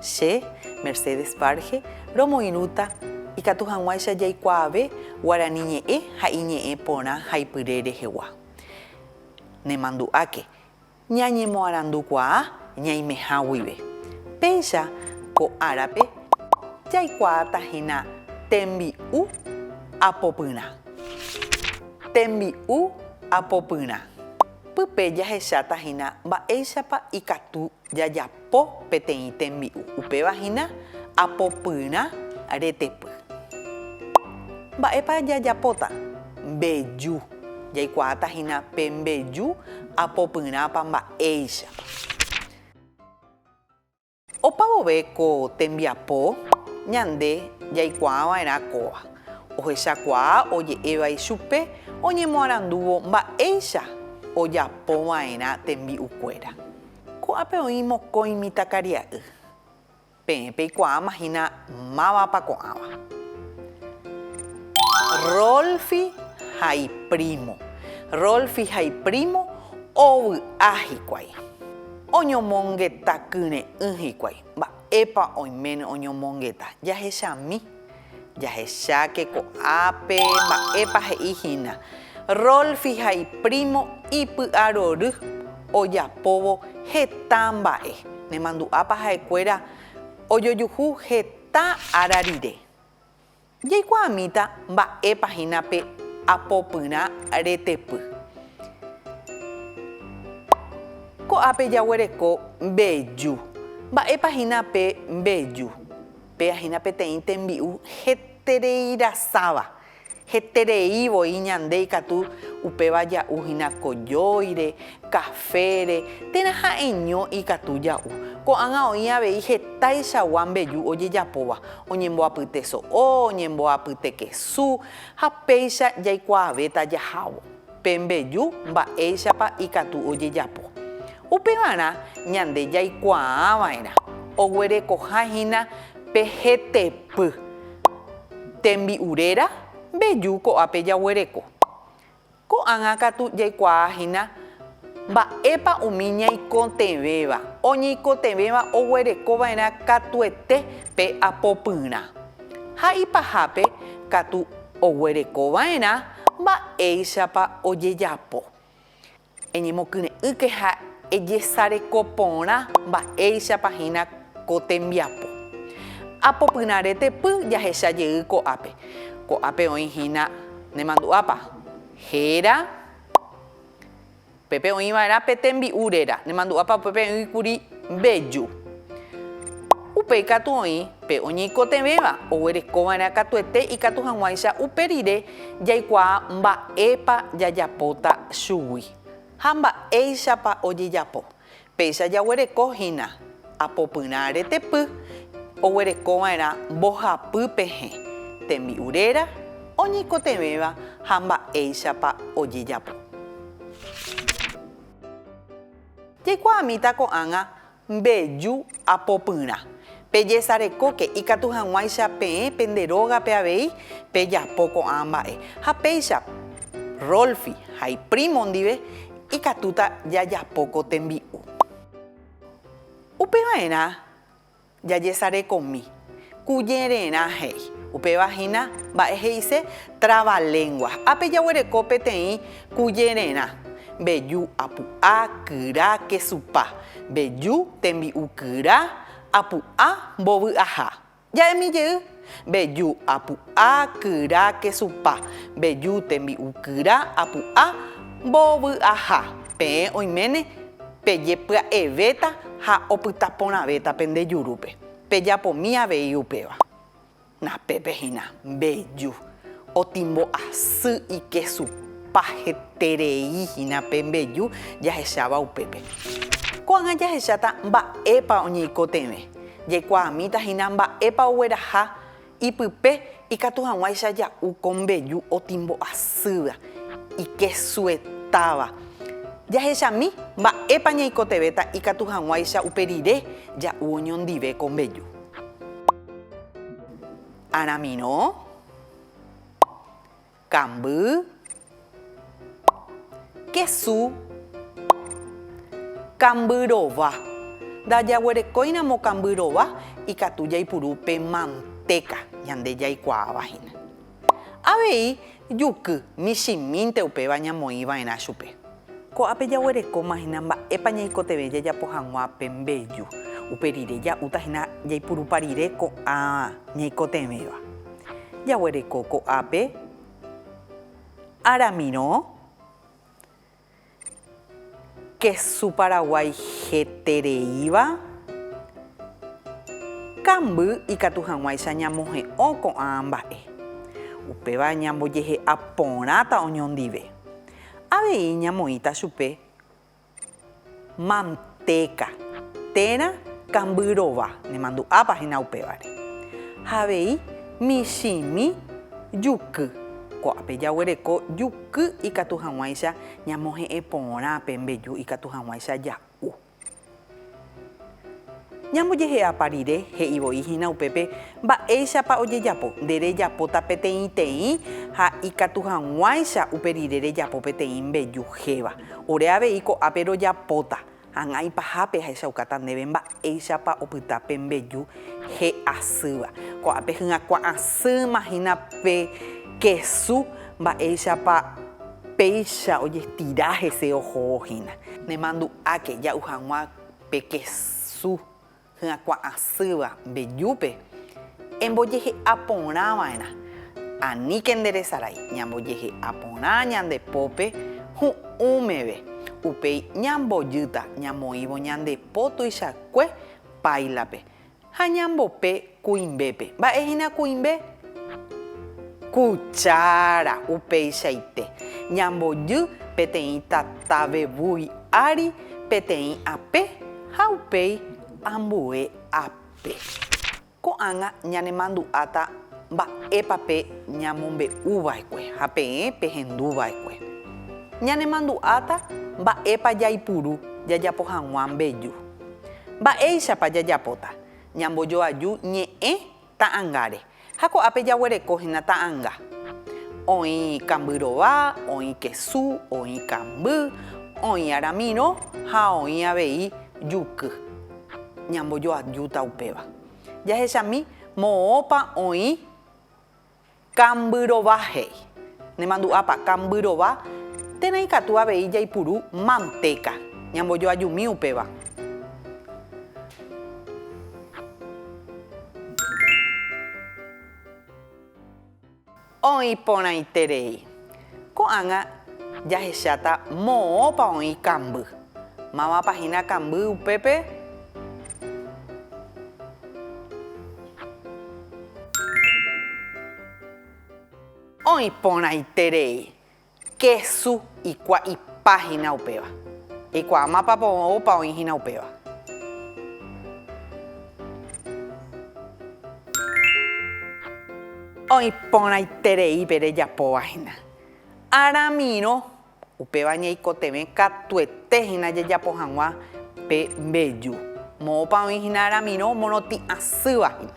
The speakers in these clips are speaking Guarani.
Che, Mercedes Barge, romoirũta ikatu hag̃uáicha jaikuaave guarani ñe'ẽ ha iñe'ẽ porã haipyre rehegua. Nemandu'áke, ñañemoarandukuaa ñaimeha guive. Péicha ko árape jaikuaáta hína tembi'u apopyrã. Tembi'u apopyrã. Pype jahecháta hína mba'éichapa ikatu Jajapo peteĩ tembi'u. Upéva hína apopyrã retepy. Mba'épa jajapóta? Mbeju. Jaikuaáta hína pe mbeju apopyrãpa mba'éichapa. Opa vove ko tembiapo, ñande jaikuaa va'erã kóva. Ohechakuaa oje'éva ichupe oñemoarandúvo mba'éicha ojapo va'erã tembi'ukuéra. Ko'ápe oĩ mokõi mitãkaria'y. Peẽ peikuaáma hína mávapa ko'ãva. Rolfi ha iprímo. Rolfi ha iprímo ovy'a hikuái. Oñomongeta kyre'ỹ hikuái. Mba'épa oiméne oñomongeta? Jahechami. Jahecháke ko'ápe mba'épa he'i hína Rolfi ha iprímo ipy'arory ojapóvo heta mba'e. Nemandu'ápa ha'ekuéra ojojuhu heta ára rire? Jaikuaamíta mba'épa hína pe apopyrã retepy. Ko'ápe jaguereko mbeju. Mba'épa hína pe mbeju? Péa hína peteĩ tembi'u hetereirasáva, heterei voi ñande ikatu upéva ja'u hína kojóire, kafére, térã ha'eño ikatu ja'u. Ko'ág̃a oĩ avei hetaichagua mbeju ojejapóva, oñemboapyte so'o, oñemboapyte kesu, ha péicha jaikuaavéta jahávo. Pe mbeju mba'éichapa ikatu ojejapo. Upevarã ñande jaikuaava'erã oguerekoha hína pe hetepy tembi'u réra mbeju ko'ápe jaguereko. Ko'ág̃a katu jaikuaa hína mba'épa umi ñaikotevẽva, oñeikotevẽva oguerekova'erã katuete pe apopyrã. Ha ipahápe katu oguerekova'erã Mba'éichapa ojejapo. Eñemokyre'ỹke ha ejesareko porã mba'éichapa hína ko tembiapo. Apopyrã retepy jahecha jey ko'ápe. Ko'ápe oĩ hína nemandu'ápa? Héra. Upépe oĩ va'erã pe tembi'u réra, nemandu'ápa upépe oĩ kuri mbeju. Upéi katu oĩ pe oñeikotevẽva, oguereko va'erã katuete ikatu hag̃uáicha upe rire jaikuaa mba'épa jajapóta chugui ha mba'éichapa ojejapo. Péicha jaguereko hína apopyrã retepy oguereko va'erã mbohapy pehẽ, tembi'u réra, oñeikotevẽva ha mba'éichapa ojejapo. Jaikuaamíta ko'ág̃a mbeju Ha popyrã. Pejesarekóke ikatu hag̃uáicha peẽ pende rógape avei pejapo ko'ã mba'e. Ha péicha, Rolfi ha iprímo ndive ikatúta jajapo ko tembi'u. Upeva'erã jajesarekomi. Kujererã he'i. Upéva hína mba'e he'ise trabalengua. Ápe jaguereko peteĩ kujererã, mbeju apu'a, kyra, kesupa, mbeju, tembi'u kyra, apu'a, mbovy'aha. Ja'emi jey, mbeju apu'a, kyra, kesupa, mbeju, tembi'u kyra, apu'a, mbovy'aha. Peẽ oiméne pejepya'evéta ha opytaporãvéta pende jurúpe. Pejapomí avei upéva. Napépe hína, mbeju, otimbo asy ikesupa heterei hína pe mbeju jahecháva upépe. Ko'ág̃a jahecháta mba'épa oñeikotevẽ, jaikuaamíta hína mba'épa ogueraha Ipype ikatu hag̃uáicha ja'u ko mbeju otimbo'asýva, ikesuetáva. Jahechami mba'épa ñaikotevẽta ikatu hag̃uáicha upe rire ja'u oñondive ko mbeju. Aramirõ, Kamby, kesu, kamby rova. Ndajaguerekóiramo kamby rova ikatu jaipuru pe mantéka ñande jaikuaáva hína. Avei juky michĩmínte upéva ñamoĩva'erã chupe. Ko'ápe jaguerekóma hína mba'épa ñaikotevẽ jajapo hag̃ua pe mbeju. Upe rire ja'úta hína jaipurupa rire ko'ã ñaikotevẽva. Jaguereko ko'ápe aramirõ kesu paraguái hetereíva, kamby ikatu hag̃uáicha ñamohe'õ ko'ã mba'e. Upéva ñambojehe'a porãta oñondive. Avei ñamoĩta chupe mantéka térã kamby rova, nemandu'ápa hína upévare. Ha avei michĩmi juky, ko'ápe jaguereko juky ikatu hag̃uáicha ñamohe'ẽ porã pe mbeju ikatu hag̃uáicha ja'u. Ñambojehe'ápa rire, he'i voi hína upépe mba'éichapa ojejapo. Nde rejapóta peteĩteĩ ha ikatu hag̃uáicha upe rire rejapo peteĩ mbeju héva. Ore avei ko'ápe rojapóta, hag̃ua ipahápe ahechaukáta ndéve mba'éichapa opyta pe mbeju he'asýva. Ko'ápe hyakuã asýma hína pe kesu mba'éichapa. Péicha ojestira hese oho'o hína. Nemandu'áke ja'u hag̃ua pe kesu hyakuã asýva mbejúpe, embojehe'a porã va'erã. Aníke nde resarái, ñambojehe'a porã ñande pópe hu'ũ meve, upéi ñambojýta ñamoĩvo ñande po tuichakue páilape, Ha ñambope kuimbépe. Mba'e hína kuimbe? Kuchára. Upeichaite, ñambojy peteĩ tatave vui ári peteĩ ape ha upéi ambue ape. Ko'ág̃a ñanemandu'áta mba'épa pe ñamombe'u va'ekue ha peẽ pehendu va'ekue. Ñanemandu'áta mba'épa jaipuru jajapo hag̃ua mbeju. Mba'éichapa jajapóta? Ñambojoaju ñe'ẽ ta'angáre, ha ko'ápe jaguereko hína ta'anga. Oĩ kamby rova, oĩ kesu, oĩ kamby, oĩ aramirõ ha oĩ avei juky. Ñambojoajúta upéva. Jahechami moõpa oĩ Kambyrova he'i. Nemandu'ápa, kambyrova, térã ikatu avei jaipuru mantéka, ñambojoajumi upéva. Oĩ porãiterei. Ko'ág̃a jahecháta moõpa oĩ kamby. Mávapa hína kamby upépe? Oĩ porãiterei kesu ikua'ipa hína upéva. Eikuaa mapa moõpa oĩ hína upéva. Oĩ porãiterei pe rejapóva hína. Aramirõ, upéva ñaikotevẽ katuete hína jajapo hag̃ua pe mbeju. Moõpa oĩ hína aramirõ morotĩ asýva hína.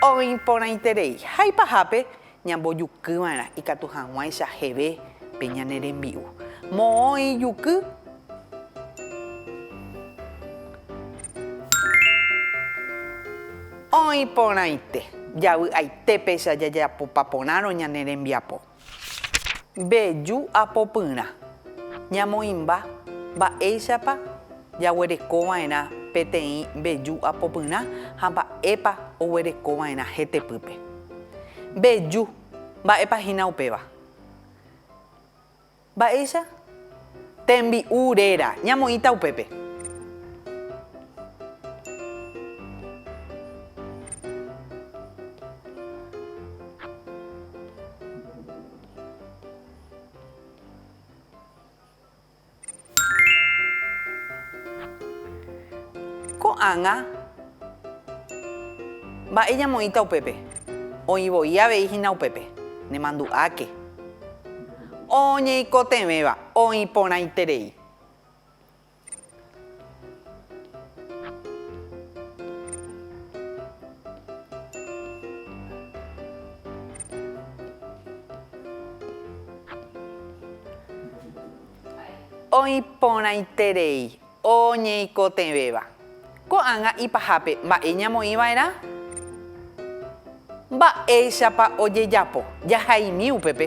Oĩ porãiterei. Haipahápe, Ñambojukyva'erã ikatu hag̃uáicha jeve pe ñane rembi'u. Moõ ijuky. Oĩ porãite. Javy'aite péicha jajapopa porãrõ ñane rembiapo. Mbeju apopyrã. Ñamoĩmba. Mba'éichapa. jaguerekova'erã peteĩ mbeju apopyrã ha mba'épa oguerekova'erã hetepýpe. Mbeju, mba'épa hína upéva? Mba'éicha? Tembi'u réra, ñamoĩta upépe. Ko'ág̃a mba'e ñamoĩta upépe, oĩ voi avei hína upépe, nemandu'áke. Oñeikotevẽva, oĩ porãiterei. Oĩ porãiterei oñeikotevẽva. Ko'ág̃a ipahápe, mba'e ñamoĩva'erã? Mba'éichapa ojejapo? Jahaimi upépe.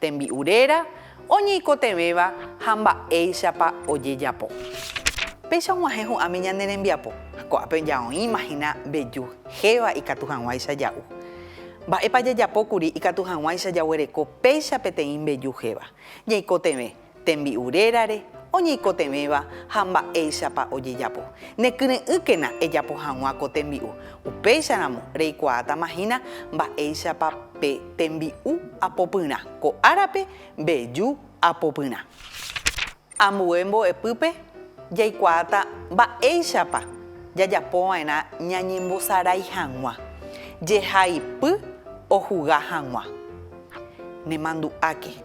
Tembi'u réra oñeikotevẽva ha mba'éichapa ojejapo. Péicha og̃uahẽ hu'ãmi ñane rembiapo. Ko'ápe ojaoĩma hína mbeju héva ikatu hag̃uáicha ja'u. Mba'épa jajapo kuri ikatu hag̃uáicha jaguereko péicha peteĩ mbeju héva? Ñaikotevẽ, tembi'u rérare oñeikotevẽva ha mba'éichapa ojejapo. Nekyre'ỹkena ejapo hag̃ua ko tembi'u, upéicharamo reikuaátama hína mba'éichapa pe tembi'u apopyrã, ko árape mbeju apopyrã. Ambue mbo'epýpe jaikuaáta mba'éichapa jajapova'erã ñañembosarái hag̃ua, jehaipy ohuga hag̃ua. Nemandu'áke.